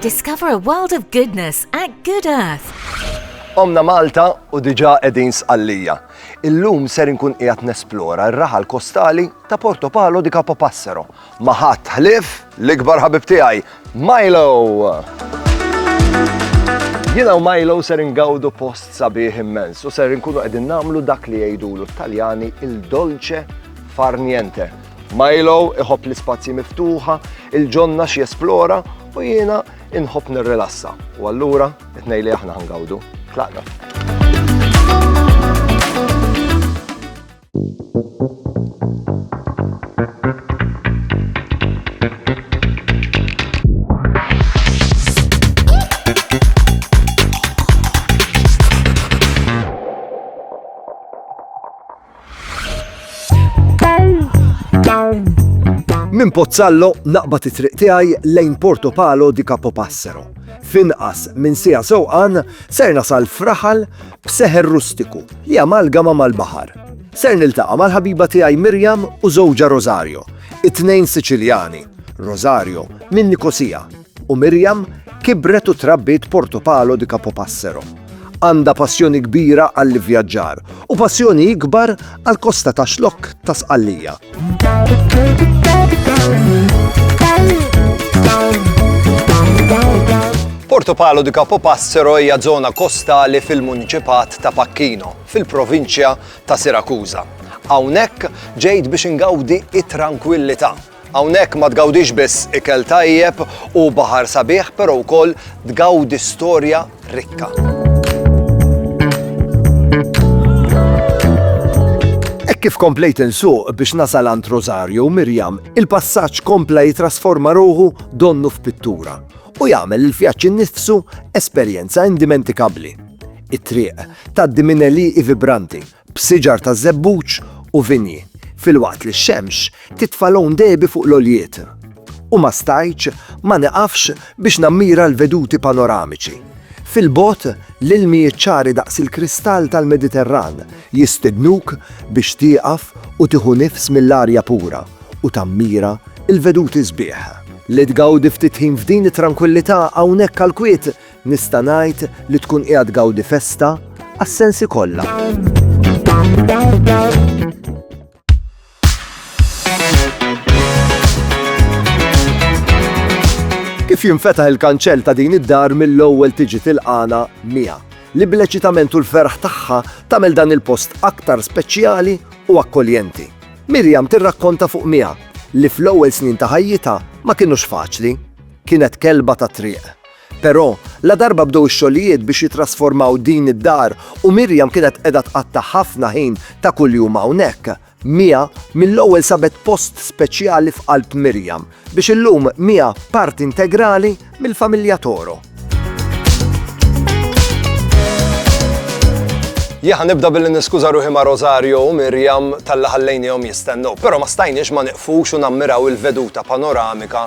Discover a world of goodness at Good Earth. Omna Malta u diġa edin sqallija. Illum ser inkun qiegħed nesplora r-raħal kostali ta' Porto Palo di Capo Passero. Maħat ħlif l-ikbar ħabib tiegħi, Milo! Jina u Milo ser ingawdu post sabiħ immens u ser inkunu qegħdin namlu dak li jgħidulu t-Taljani il-dolce farniente. Milo iħobb l-ispazji miftuħa, il-ġonna xi jesplora u jiena inħobb nirrilassa. U allura, it-tnejn li aħna ħangawdu. Tlaqna. Minn Pozzallo naqbad it-triq tiegħi lejn Porto Palo di Capopassero. Finqas minn sija sewqan ser nasal fraħal b'seħer rustiku li amalgama mal-baħar. Ser niltaqa' mal-ħabiba tiegħi Mirjam u żewġha Rosario, it-tnejn Siċiljani, Rosario minn Nikosija U Miriam kibret u trabbiet Porto Palo di Capopassero. Għandha passjoni kbira għall-ivvjaġġar u passjoni ikbar għall-kosta ta' xlokk ta' Sqallija. Porto Palo di Capopassero hija żona kostali fil-Muniċipat ta' Pacchino, fil-provinċja ta' Sirakuża. Hawnhekk ġejt biex ingawdi it-trankwillità Hawnhekk ma tgawdix biss ikel tajjeb u baħar sabiħ, però wkoll tgawdi storja rikka. Kif komplejt insuq biex nasal għand Rosario Mirjam, il-passaġġ kompla jitrasforma ruħu donnu f'pittura u jagħmel il-vjaġġ innifsu esperjenza indimentikabbli. It-triq tgħaddi minn eliqi vibranti b'siġar taż-żebbuġ u vinji, filwaqt li x-xemx titfa' lgħun dehbi fuq l-għoljiet, u ma stajtx ma niqafx biex nammira l-veduti panoramiċi fil-bogħod li ilmijiet ċari daqs il-kristall tal-Mediterran jistednuk biex tieqaf u tieħu nifs mill-arja pura u tammira l-veduti sbieħ. Li tgawdi ftit ħin f'din it-trankwillità hawnhekk għall-kwiet Nista' ngħid li tkun qiegħed tgawdi festa għas-sensi kollha. Kif jinfetaħ il-kanċell ta' din id-dar mill-ewwel tiġi tilqana Mija, li bl-eċitament u l-ferħ tagħha tagħmel dan il-post aktar speċjali u akkoljenti. Mirjam tirrakkonta fuq Mija li fl-ewwel snin ta' ħajjitha ma kinux faċli. Kienet kelba ta' triq. Però, ladarba bdew ix-xogħlijiet biex jittrasformaw din id-dar u Miriam kienet qiegħda tqatta' ħafna ħin ta' kuljum hawnhekk, Mia mill-ewwel sabet post speċjali f'qalb Miriam, biex illum Mia parti integrali mill-familja Toro. Jien ħa nibda billi niskuża ruħi ma' Rosario u Miriam talli ħallejniehom jistennew, però ma stajniex ma nieqfux u nammiraw il-veduta panoramika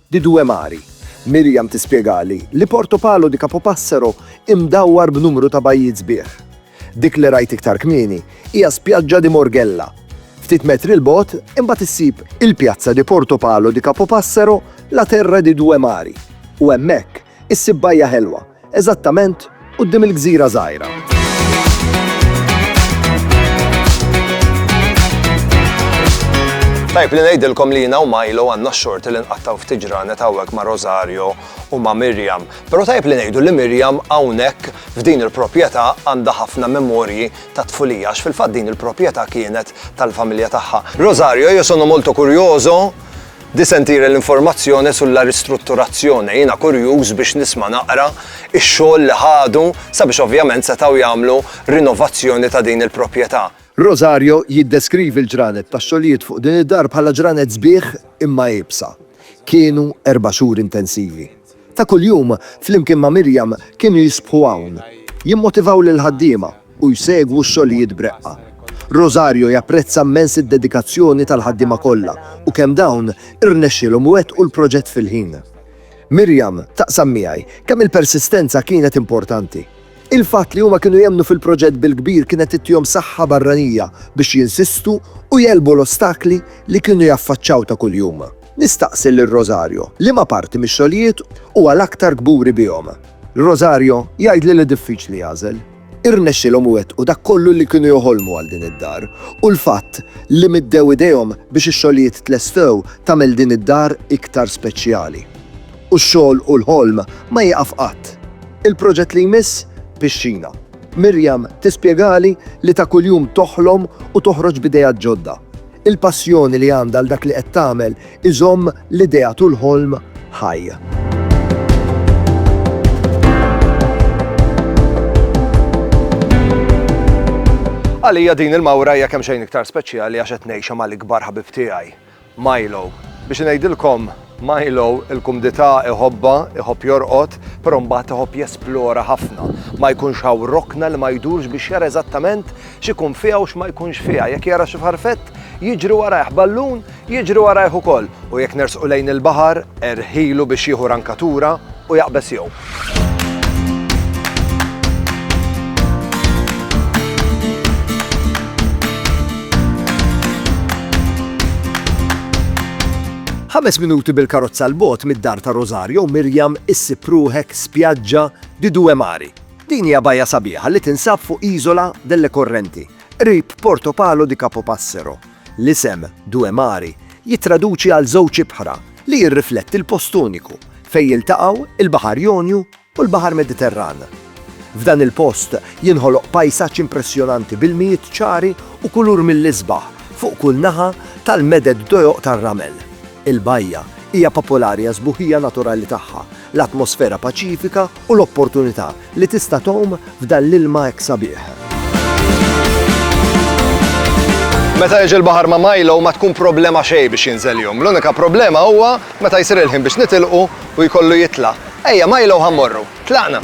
Di due mari. Miriam tispjegali li Porto Palo di Capopassero hi mdawwar b'numru ta' bajjiet sbieħ. Dik li rajt iktar kmieni hija Spiaggia di Morghella. Ftit metri 'l bogħod imbagħad issib il-pjazza di Porto Palo di Capopassero, la terra di due mari, u hemmhekk Issib bajja ħelwa, eżattament quddiem il-gżira żgħira. Tajb li ngħidilkom li jiena u Milo għandna x-xorti li nqattaw ftit ġranet hawnhekk ma' Rosario u ma' Mirjam. Però tajb li ngħidu li Mirjam hawnhekk f'din il-proprjetà għandha ħafna memorji ta' tfulija għax fil-fatt din il-proprjetà kienet tal-familja tagħha. Rosario, io sono molto curioso Di sentire l-informazzjone su la ristrutturazzjone, jiena kurjuż biex nisma' naqra x-xogħol li ħadu sabiex ovvjament setgħu jagħmlu rinovazzjoni ta' din il-propjeta'. Rosario jiddeskrivi l-ġranet tax-xogħlijiet fuq din id-dar bħala ġranet sbieħ imma iebsa. Kienu erba' xhur intensivi. ta' kuljum flimkien ma' Miriam kienu jisbħu hawn, jimmotivaw lill-ħaddiema u jsegwu x-xogħlijiet b'reqqa. Rosario japprezza mmens id-dedikazzjoni tal-ħaddiema kollha u kemm dawn irnexxielhom iwettqu l-proġett fil-ħin. Miriam taqsam miegħi kemm il-persistenza kienet importanti. Il-fatt li huma kienu jemmnu fil-proġett bil-kbir kienet ittihom saħħa barranija biex jinsistu u jegħlbu l-ostakli li kienu jaffaċċaw ta' kuljum. Nistaqsi lil Rosario liema parti mix-xogħlijiet huwa l-aktar kburi bihom. Rosario jgħidli li diffiċli jagħżel. Irnexxielhom iwettqu dak kollu li kienu joħolmu għal din id-dar u l-fatt li middew idejhom biex ix-xogħlijiet tlestew tagħmel din id-dar iktar speċjali. U x-xogħol u l-ħolm ma jieqaf qatt. Il-proġett li jmiss? Pixxina. Miriam tispjegali li ta' kuljum toħlom u toħroġ b'ideat ġodda. Il-passjoni li għandha għal dak li qed tagħmel iżomm l-ideat u l-ħolm ħaj. Għalija din il-mawra hija kemm xejn iktar speċjali għax qed ngħixha mal-ikbar ħabib tiegħi, Milo. Biex ngħidilkom Milo il-kumdità iħobbha, iħobb jorqod, però mbagħad iħobb jesplora ħafna. Ma jkunx hawn rokna li ma jdurx biex jara eżattament x'ikun fiha u x'ma jkunx fiha. Jekk jara xi farfett, jiġri warajh, ballun, jiġri warajh ukoll. U jekk nersqu lejn il-baħar, erħilu biex jieħu rankatura u jaqbeż jew. Ħames minuti bil-karozza l-bot mid-dar ta' Rosario Mirjam issib ruħek spjaġġa di Due Mari. Din hija bajja sabiħa li tinsab fuq iżola delle Correnti, qrib Porto Palo di Capopassero, L-isem Due Mari jittraduċi għal żewġ ibħra li jirrifletti l-post uniku fejn jiltaqgħu l-Baħar Jonju u l-Baħar Mediterran. F'dan il-post jinħoloq pajsaġġ impressjonanti b'ilmijiet ċari u kulur mill-isbaħ fuq kull naħa tal-meded dojoq tar-ramel. Il-bajja hija popolari għas-sbuħija naturali tagħha l-atmosfera paċifika u l-opportunità li tista' tgħum f'dan l-ilma hekk sabiħ. Meta jiġi l-baħar ma' Milo ma tkun problema xejn biex jinżel jum. L-unika problema huwa meta jsir il-ħin biex nitilqu u jkollu jitla'. Ejja Milo ħammorru. Tlaqna!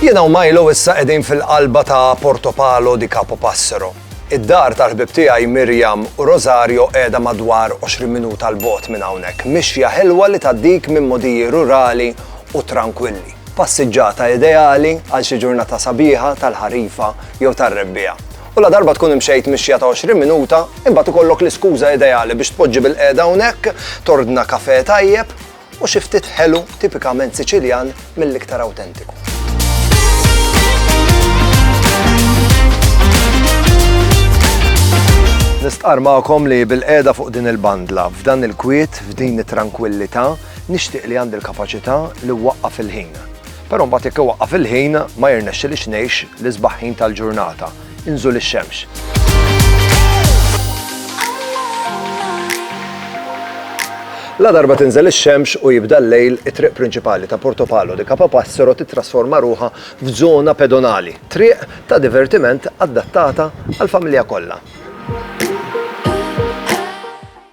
Jiena u Milo issa qegħdin fil-qalba ta' Porto Palo di Capo Passero. Id-dar tal-ħbieb tiegħi Miriam u Rosario qiegħda madwar 20 minuta 'l bogħod minn hawnhekk, mixja ħelwa li tgħaddik minn mogħdiji rurali u trankwilli. Passiġġata ideali għal xi ġurnata sabiħa tal-ħarifa jew tar-rebbiegħa. U ladarba tkun imxejt mixja ta' 20 minuta, imbagħad ikollok l-iskuża ideali biex tpoġġi bilqiegħda hawnhekk, tordna kafè tajjeb, u xi ftit ħelu tipikament Siċiljan mill-iktar awtentiku. Nistqar magħkom li bil-qeda fuq din il-bandla, f'dan il-kwiet, f'din it-trankwillità, nixtieq li għandi l-kapaċità li waqqa fil-ħin. Però mbagħad jekk waqqa fil-ħin ma jirnexxilix ngħix l-isbaħħin tal-ġurnata. inżul ix-xemx. Ladarba tinżel ix-xemx u jibda l-lejl, it-triq prinċipali ta' Porto Palo de Capopassero tittrasforma ruħha f'żona pedonali, triq ta' divertiment adattata għall-familja kollha.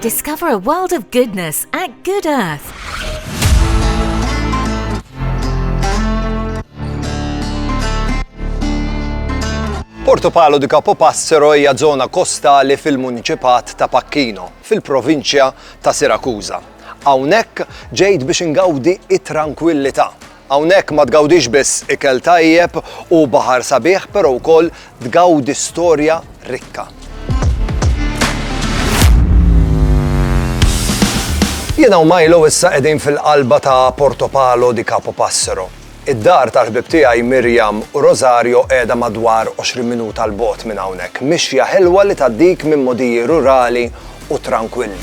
Discover a world of goodness at Good Earth. Porto Palo di Capo Passero hija żona kostali fil-muniċipat ta' Pacchino, fil-provinċja ta' Sirakuża. Hawnhekk ġejt biex ingawdi it-trankwillità Hawnhekk ma tgawdix biss ikel tajjeb u baħar sabiħ, però wkoll tgawdi storja rikka. Jiena u Milo issa qegħdin fil-qalba ta' Portopalo di Capo Passero. Id-dar tal-ħbib tiegħi Miriam u Rosario qiegħda madwar 20 minuta 'l bogħod minn hawnhekk, mixja ħelwa li tgħaddik minn mogħdiji rurali u trankwilli.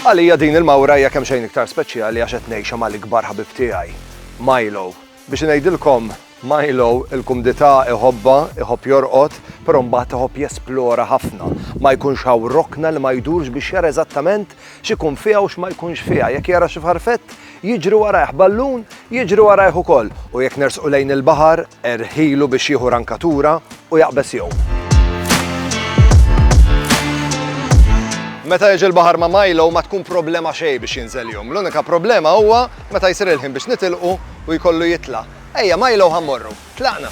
Għalija din il-mawra hija kemmxejn iktar speċjali għax qed ngħixha mal-ikbar ħabib tiegħi, Milo. Biex ngħidilkom, Milo il-kumdità iħobbha, iħobb jorqod, però mbagħad iħobb jesplora ħafna. Ma jkunx hawn rokna li ma jdurx biex jara eżattament x'ikun fiha u x'ma jkunx fiha. Jekk jara xi farfett, jiġri warajh, ballun, jiġri warajh ukoll. U jekk nersqu lejn il-baħar, Erħilu biex jieħu rankatura u jaqbeż jew. Meta jiġi l-baħar ma' Milo ma tkun problema xejn biex jinżel jgħum. L-unika problema huwa meta jsir il-ħin biex nitilqu u jkollu jitla'. Ejja Milo ħa mmorru. Tlaqna!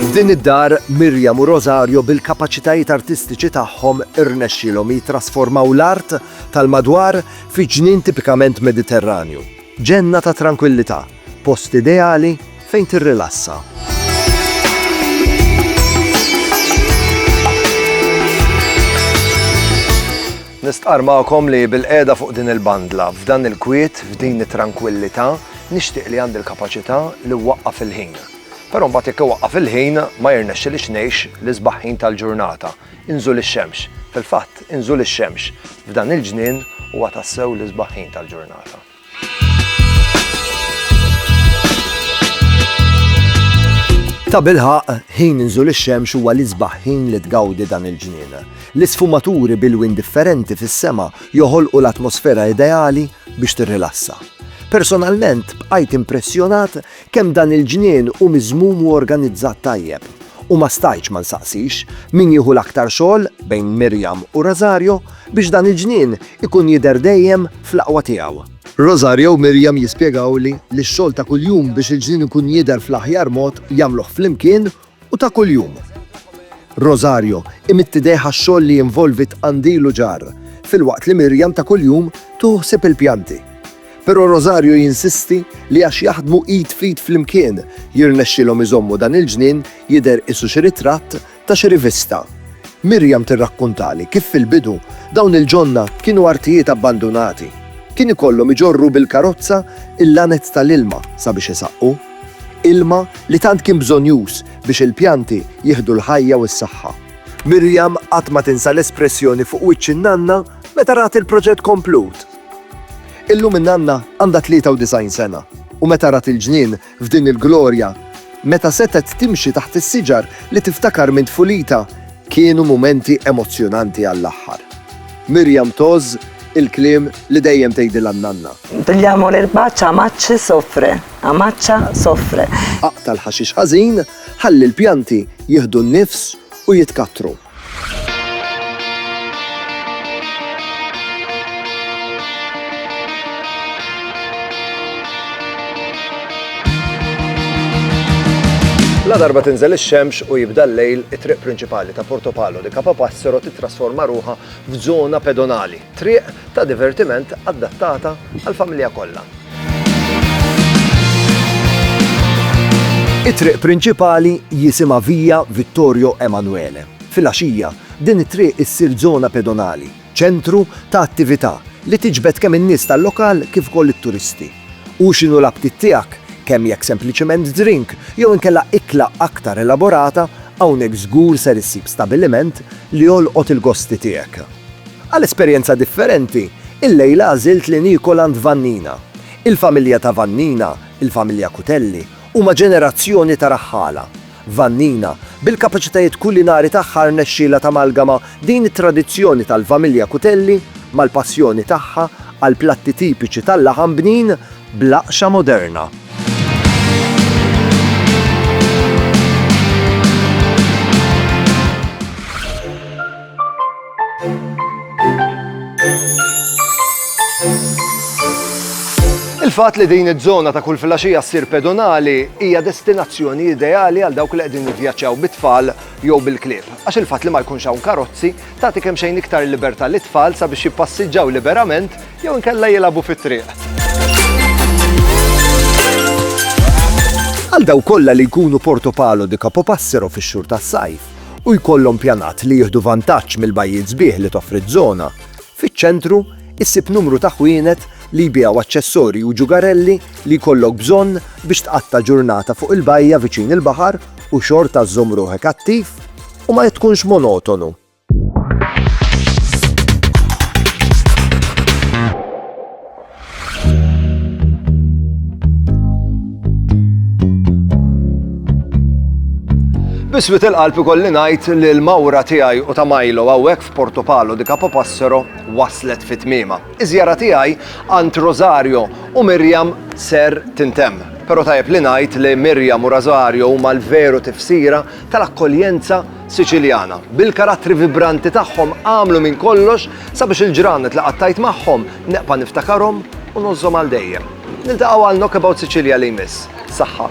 F'din id-dar, Miriam u Rosario bil-kapaċitajiet artistiċi tagħhom irnexxielhom jittrasformaw l-art tal-madwar fi ġnien tipikament Mediterranju, ġenna ta' trankwillità, post ideali fejn tirrilassa. Nistqarr magħkom li bil-qiegħda fuq din il-bandla, f'dan il-kwiet, f'din it-trankwillità, nixtieq li għandi l-kapaċità li wwaqqaf il-ħin. Però mbagħad jekk iwaqqaf il-ħin ma jirnexxilix ngħix l-isbaħ ħin tal-ġurnata, inżul ix-xemx. Fil-fatt, inżul ix-xemx f'dan il-ġnien huwa tassew l-isbaħ ħin tal-ġurnata. Tabilħaqq, ħin inżul ix-xemx huwa l-isbaħ ħin li tgawdi dan il-ġnien. L-isfumaturi b'ilwien differenti fis-sema joħolqu l-atmosfera ideali biex tirrilassa. Personalment, bqajt impressjonat kemm dan il-ġnien hu miżmum u organizzat tajjeb, u ma stajtx ma nsaqsix min jieħu l-aktar xogħol bejn Miriam u Rosario biex dan il-ġnien ikun jidher dejjem fl-aqwa tiegħu. Rosario u Miriam jispjegawli li x-xogħol ta' kuljum biex il-ġnien ikun jidher fl-aħjar mod jagħmluh flimkien u ta' kuljum. Rosario imidd idejh għax-xogħol li jinvolvi tqandil u ġarr, filwaqt li Miriam ta' kuljum tieħu ħsieb il-pjanti. Però Rosario jinsisti li għax jaħdmu id f'id flimkien, jirnexxilhom iżommu dan il-ġnien jidher qisu xi ritratt ta' xi rivista. Miriam tirrakkuntali kif fil-bidu dawn il-ġonna kienu artijiet abbandunati. Kien ikollhom iġorru bil-karozza il-lanez tal-ilma sabiex isaqqu. Ilma li tant kien bżonnjuż biex il-pjanti jieħdu l-ħajja u s-saħħa. Miriam qatt ma tinsa l-espressjoni fuq wiċċ in-nanna meta rat il-proġett komplut. Illum in-nanna għandha 93 sena u meta rat il-ġnien f'din il-glorja, meta setgħet timxi taħt is-siġar li tiftakar minn tfulitha, kienu mumenti emozzjonanti għall-aħħar. Miriam tgħożż Il-kliem li dejjem tgħidilha n-nanna. Pigliamo l'erba c'ha macce soffre, a maccia soffre. Aqta' l-ħaxix ħażin, ħalli l-pjanti jieħdu n-nifs u jitkattru. Ladarba tinżel ix-xemx u jibda l-lejl, it-triq prinċipali ta' Porto Palo di Capapassero tittrasforma ruħha f'żona pedonali, triq ta' divertiment adattata għall-familja kollha. It-triq prinċipali jisimha Via Vittorio Emanuele. Filgħaxija, din it-triq issir żona pedonali, ċentru ta' attività li tiġbed kemm in-nies tal-lokal kif ukoll it-turisti. U x'inhu l-aptit tiegħek, kemm jekk sempliċement drink jew inkella ikla aktar elaborata, hawnhekk żgur ser issib stabiliment li jolqot il-gosti tiegħek. Għal esperjenza differenti, illejla għażilt li niekol għand Vannina. Il-familja ta' Vannina, il-familja Cutelli, huma ġenerazzjoni ta' raħħala. Vannina. Bil-kapaċitajiet kulinari tagħha rnexxielha tamalgama din it-tradizzjoni tal-familja Cuttelli mal-passjoni tagħha għall-platti tipiċi tal-laħam bnin bl-aqxa moderna. Il-fatt li din iż-żona ta' kull filgħaxija ssir pedonali hija destinazzjoni ideali għal dawk li qegħdin jivvjaġġaw bit-tfal jew bil-klieb, għax il-fatt li ma jkunx hawn karozzi tagħti kemm xejn iktar libertà lit-tfal sabiex jippassiġġaw liberament jew inkella jilagħbu fit-triq. Għal daw kollha li jkunu Portopalo di Capopassero fix-xhur tas-sajf, u jkollhom pjanat li jieħdu vantaġġ mill-bajjiet sbieħ li toffri ż-żona, fiċ-ċentru issib numru ta' ħwienet li jbigħu aċċessorji u ġugarelli li jkollok bżonn biex tqatta' ġurnata fuq il-bajja viċin il-baħar u xorta żżomm ruħek attiv u ma tkunx monotonu. Biswit il-qalb ikolli ngħid li l-mawra tiegħi u ta' Milo hawnhekk f'Porto Palo di Capo Passero waslet fit tmiema. Iż-żjara tiegħi għand Rosario u Miriam ser tintemm. Però tajjeb li ngħid li Miriam u Rosario huma l-veru tifsira tal-akkoljenza Siċiljana, bil-karattri vibranti tagħhom għamlu minn kollox sabiex il-ġranet li qattajt magħhom neqpa' niftakarhom u ngħożżhom għal dejjem. Niltaqgħu għal Knockabout Sicilia li jmiss. Saħħa.